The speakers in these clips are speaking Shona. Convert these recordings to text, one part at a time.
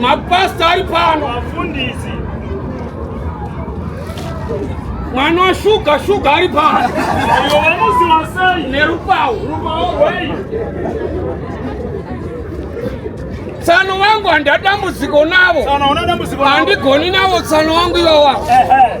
Mapastor ari pano. Wafundisi. Mwana wa shuga shuga ari pano. Ayo wamuzi wasai. Nerupawo. Rupawo wei. Tsano wangu handa dambudziko navo. Tsano una dambudziko navo. Handigoni navo tsano wangu iwawa. Ehe.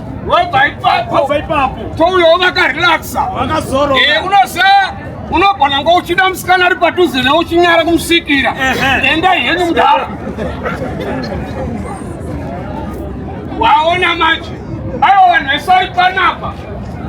wobva ipapo wobva ipapo touyawo vakarelaxa vakazoro e eh, unosa unogona ngo uchida musikana ari padhuze ne uchinyara kumusikira enda henyu mudhara waona manje aiwa vanhu vese ari panapa